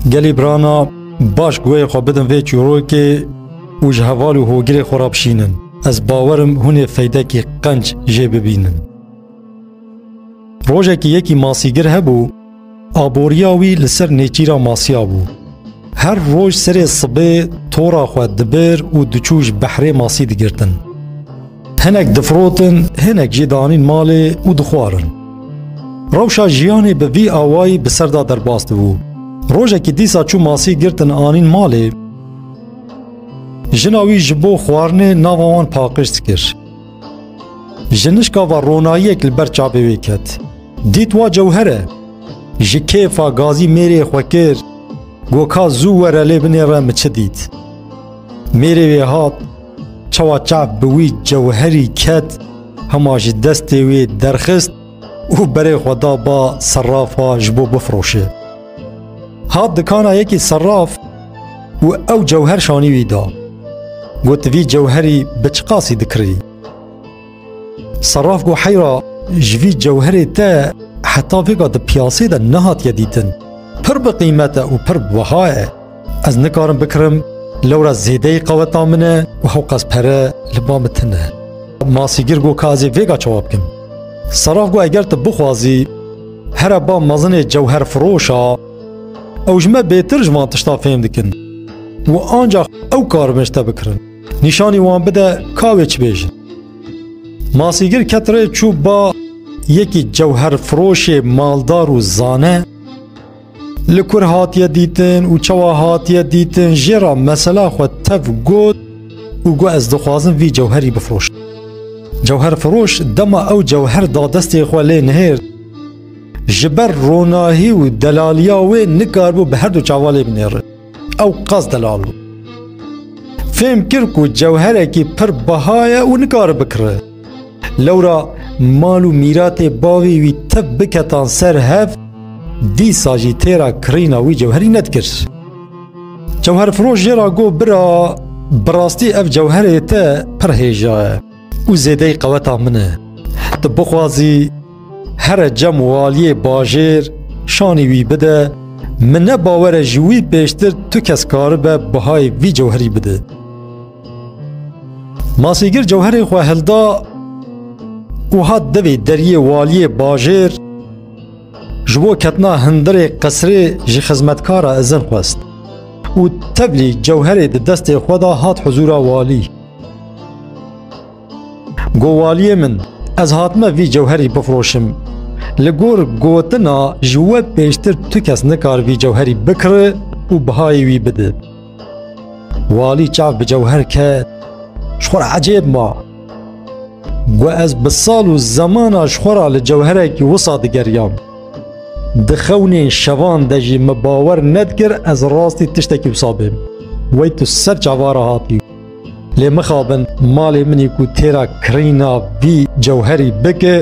Gelê Brana baş guhê xwe bidin vê çîrokê û ji heval û hogirê xwe re bişînin. Ez bawerim hûnê feydekî qenc jê bibînin. Rojekî yekî masîgir hebû, aboriya wî li ser nêçîra masiya bû. Her roj serê sibê tora xwe dibir û diçû ji behrê masî digirtin. Hinek difrotin, hinek jî danîn malê û dixwarin. Rewşa jiyanê bi vî awayî bi ser de derbas dibû. Rojekî dîsa çû masî girtin anîn malê. Jina wî ji bo xwarinê nava wan paqij kir. Ji nişka ve ronayiyek li ber çavê wê ket. Dît wa cewher e. Ji kêfa gazî mêrê xwe kir, Goka zû were lê binêre min çi dît. Mêrê wê hat, Çawa çav bi wî cewherî ket, hema ji destê wê derxist û berê xwe da ba serrafa ji bo bifroşe. Hat dikana yekî serraf û ew cewher şanî wî da. Got vî cewherî bi çiqasî dikirî? Seraf got heyra ji vî cewherê te heta vêga di piyasê de nehatiye dîtin. Pir bi qîmet e û pir wiha ye. Ez nikarim bikirim lewra zêdeyî qeweta min e û hewqas pere li ba min tune. Masîgir got ka ez ê vêga çawa bikim. Seraf got eger tu bixwazî here ba mezinê cewher firoşa ew ji me bêtir ji van tişta fêm dikin û ancax ew kar min ji te bikirin. Nîşanî wan bide ka wê çi bêjin. Masîgir ket rê çû ba yekî cewherfiroşê maldar û zane li kur hatiye dîtin û çawa hatiye dîtin jê ra mesela xwe tev got û got ez dixwazim vî cewherî bifroş. Cewherfiroş dema ew cewher da destê xwe lê nihêr ji ber ronahî û delaliya wê nikarbû bi herdu çavalê binêri. Ew qas delal bû. Fêm kir ku cewherekî pir beha ye û nikare bikire. Lewra mal û mîratê bavê wî tev biketan ser hev, dîsa jî têra kirîna wî cewherî nedikir. Cewherfiroş jê ra got bira, bi rastî ev cewherê te pir hêja ye. û zêdeyî qeweta min e. Tu bixwazî here cem û aliyê bajêr şanî wî bide, min ne bawer e ji wî pêştir tu kes karibe bihayê vî cewherî bide. Masîgir cewherê xwe hilda û hat devê deriyê waliyê bajêr ji bo ketina hindirê qisrê ji xizmetkara izin xwest û tevlî cewherê di destê xwe da hat huzûra walî. Govaliyê min ez hatime vî cewherî bifroşim. Li gor gotina ji we pêştir tu kes nikar vî cewherî bikiri û bihayê wî bidi. Walî çav bi cewher ket ji xwe ecêb ma. Gu ez bi sal û zemana ji xwe ra li cewherekî wisa digeriyam. Di xewnên şevan de jî min bawer nedikir ez rastî tiştekî wisa bêm. Wey tu ser çavara hatî. Lê mixabin malê min ê ku têra kirîna vî cewherî bike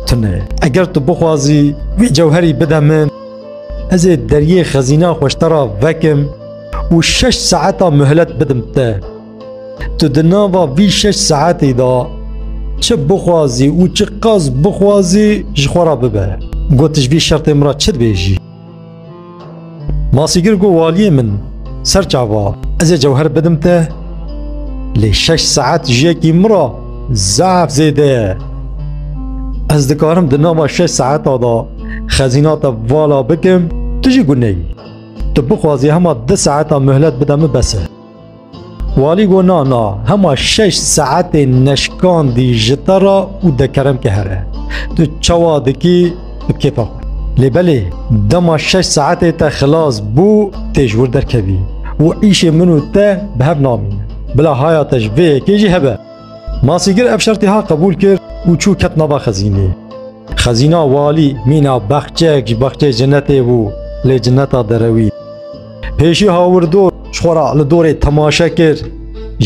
tune. Eger tu bixwazî vî cewherî bide min, ez ê deriyê xezîna xwe ji te re vekim û şeş saeta muhelet bidim te. Tu di nava vî şeş saetê de çi bixwazî û çi qas bixwazî ji xwe re bibe. Got ji vî şertê min re çi dibêjî? Masîgir got waliyê min ser çava ez ê cewher bidim te lê şeş saet jiyekî min re zaf zêde ye. Ez dikarim di nama şeş saeta de xezîna te vala bikim tu jî guneyî. Tu bixwazî hema di saeta mihlet bide min bes e. Walî got na na hema şeş saetê neşkandî ji te re û dekeremke here. Tu çawa dikî bi kêfa xwe. Lê belê dema şeş saetê te xilas bû tê ji wir derkevî û îşê min û te bi hev namîne. Bila haya te ji vê yekê jî hebe. Masîgir ev şertê ha qebûl kir û çû ket nava xezînê. Xezîna walî mîna bexçeyek ji bexçeyê cinetê bû lê cineta derewî. Pêşî hawirdor ji xwe re li dorê temaşe kir.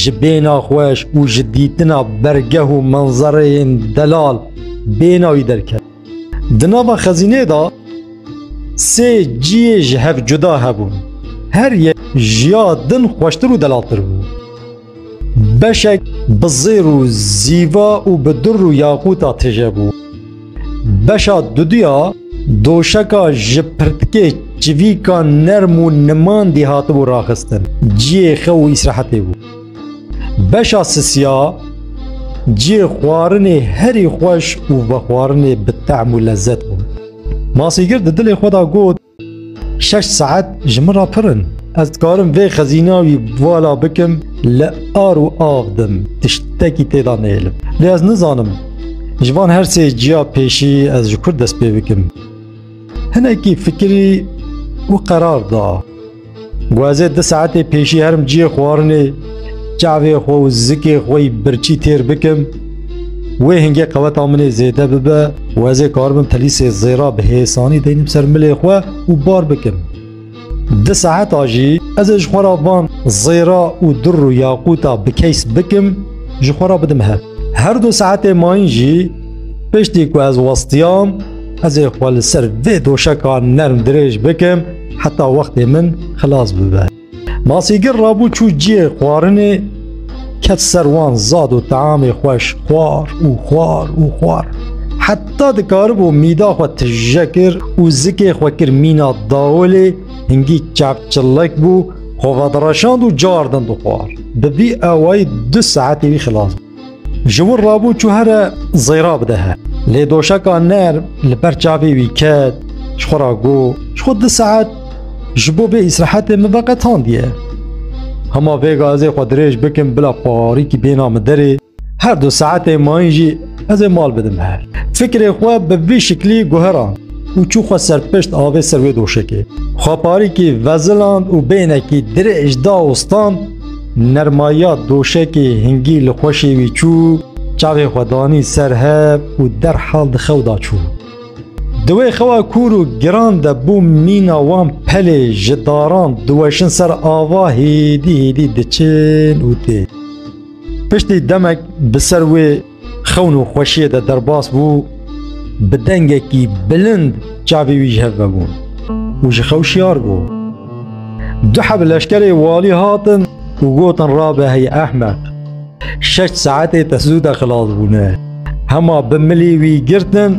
Ji bêhna xweş û ji dîtina bergeh û manzereyên delal bêhna wî derket. Di nava xezînê de sê ciyê ji hev cuda hebûn. Her yek jiya din xweştir û delaltir bû. Beşek bi zêr û zîva û bi dir û yaqûta tije bû. Beşa duduya doşeka ji pirtikê çivîka nerm û nimandî hatibû raxistin. Ciyê xew û îsrehetê bû. Beşa sisiya ciyê xwarinê herî xweş û vexwarinê bi tehm û lezzet bû. Masîgir di dilê xwe de got, Şeş saet ji min re pir in. Ez dikarim vê xezîna wî vala bikim li ar û av dim tiştekî tê de nêlim. Lê ez nizanim ji van her sê ciya pêşî ez ji kur dest pê bikim. Hinekî fikirî û qerar da. Guazê di saetê pêşî herim ciyê xwarinê çavê xwe û zikê xwe birçî têr bikim. Wê hingê qeweta min ê zêde bibe û ez ê karibim telîsê zêra bi hêsanî deynim ser milê xwe û bar bikim. Di saeta jî ez ê ji xwe re van zêra û dir û yaqûta bi keys bikim ji xwe re bidim hev. Her du saetê mayîn jî piştî ku ez westiyam ez ê xwe li ser vê doşeka nerm dirêj bikim heta wextê min xilas bibe. Masîgir rabû çû ciyê xwarinê ket ser wan zad û teamê xweş xwar û xwar û xwar. Heta dikaribû mîda xwe tije kir û zikê xwe kir mîna dawolê hingî çavçillek bû, xwe vedireşand û cardin dixwar. Bi vî ewayî du saetê wî xilas bû. Ji wir rabû çû here zêra bide he. Lê doşeka nerm li ber çavê wî ket, ji xwe re got, ji xwe du saet ji bo vê îsrehetê min veqetandiye. Hema vê gazê xwe dirêj bikim bila parîkî bêna min derê, her du saetê mayîn jî ez ê mal bidim her. Fikrê xwe bi vî şiklî guheran û çû xwe serpişt avê ser wê doşekê. Xwe parîkî veziland û bênekî dirêj da û stand, Nermaya doşekê hingî li xweşê wî çû, çavê xwe danî ser hev û derhal di xew da çû. Di wê xewa kûr û giran de bû mîna wan pelê ji daran diweşin ser ava hêdî hêdî diçin û tê. Piştî demek bi ser wê Xewn û xweşiyê de derbas bû, bi dengekî bilind çavê wî ji hev vebûn û ji xew şiyar bû. Du heb leşkerê walî hatin û gotin rabe hey ehmeq. Şeş saetê te zû de xilas bûne. Hema bi milî wî girtin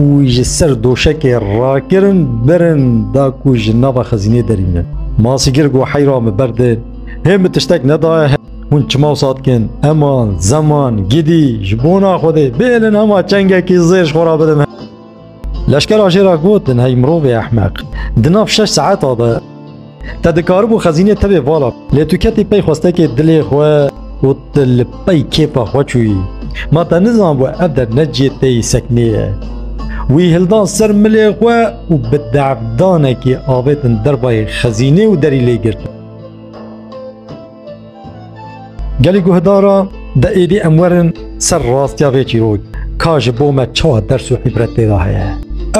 û wî ji ser doşekê rakirin birin da ku ji nava xezînê derînin. Masîgir got heyra min berdê, hê min tiştek nedaye Hûn çima wisa dikin? Eman, zeman, gidî, ji bona Xwedê bêlin hema çengekî zêr ji xwe re bidin. Leşkera jê re gotin hey mirovê ehmeq. Di nav şeş saeta de te dikaribû xezînê tevê vala lê tu ketî pey xwestekê dilê xwe û tu li pey kêfa xwe çûyî. Ma te nizanbû ev der ne cihê te yî seknê ye. Wî hildan ser milê xwe û bi de'fdanekî avêtin derbayê xezînê û derî lê girtin. Gelê guhdara de êdî em werin ser rastiya vê çîrok ka ji bo me çawa ders û îbret têda heye.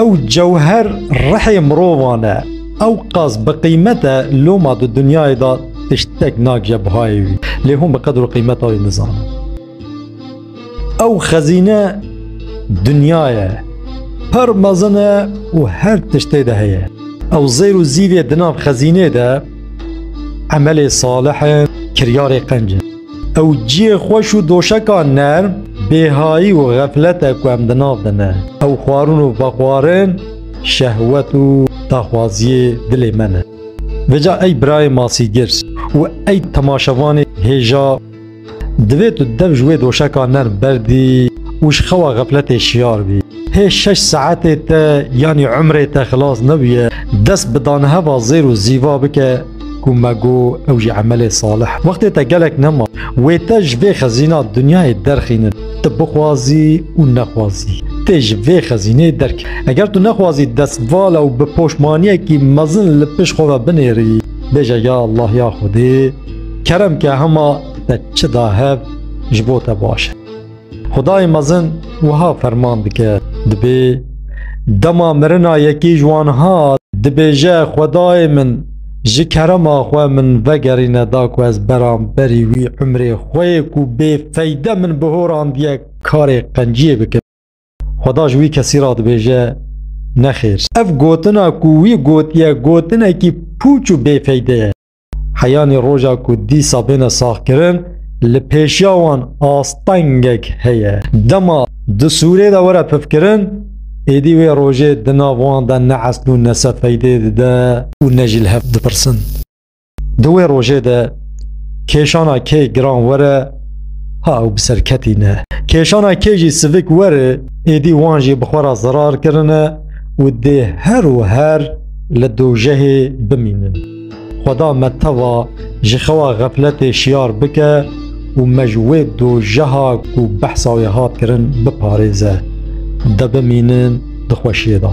Ew cewher rihê mirovan e. Ew qas bi qîmet e loma di dinyayê de tiştek nagije buhayê wî. Lê hûn bi qedir û qîmeta wî nizane. Ew xezîne dinya ye. Pir mezin e û her tişt tê de heye. Ew zêr û zîvê di nav xezînê de emelê salih e, kiryarê qenc e. Ew ciyê xweş û doşeka nerm, bêhayî û xeflet e ku em di nav de ne. Ew xwarin û vexwarin şehwet û daxwaziyê dilê me ne. Vêca ey birayê masîgir û ey temaşevanê hêja. Divê tu dev ji wê doşeka nerm berdî û ji xewa xefletê şiyar bî. Hê şeş saetê te yanî umrê te xilas nebûye, dest bi daneheva zêr û zîva bike ku me got ew jî emelê salih. Wextê te gelek nema. Wê te ji vê xezîna dinyayê derxînin. Tu bixwazî û nexwazî. Tê ji vê xezînê derket. Eger tu nexwazî destvala û bi poşmaniyekî mezin li pişt xwe ve binêrî. Bêje ya Allah ya Xwedê. Kerem ke hema te çi da hev ji bo te baş e. Xwedayê mezin wiha ferman dike, dibê dema mirina yekî ji wan hat, dibêje Xwedayê min ji kerema xwe min vegerîne da ku ez beramberî wî umrê xwe yê ku bê feyde min bihorandiye karê qenciyê bikim. Xweda ji wî kesî ra dibêje Nexêr. Ev gotina ku wî gotiye gotinekî pûç û bêfeyde ye. Heyanî roja ku dîsa bêne saxkirin li pêşiya wan astengek heye. Dema di sûrê de were pifkirin, êdî wê rojê di nav wan de ne esl û ne se feydê dide û ne jî li hev dipirsin. Di wê rojê de kêşana kê giran were ha ew bi ser ketîne. Kêşana kê jî sivik were êdî wan jî bi xwe re zirar kirine û dê her û her li dojehê bimînin. Xweda me teva ji xewa xefletê şiyar bike û me ji wê dojeha ku behsa wê hat kirin biparêze. De bimînin di xweşiyê de.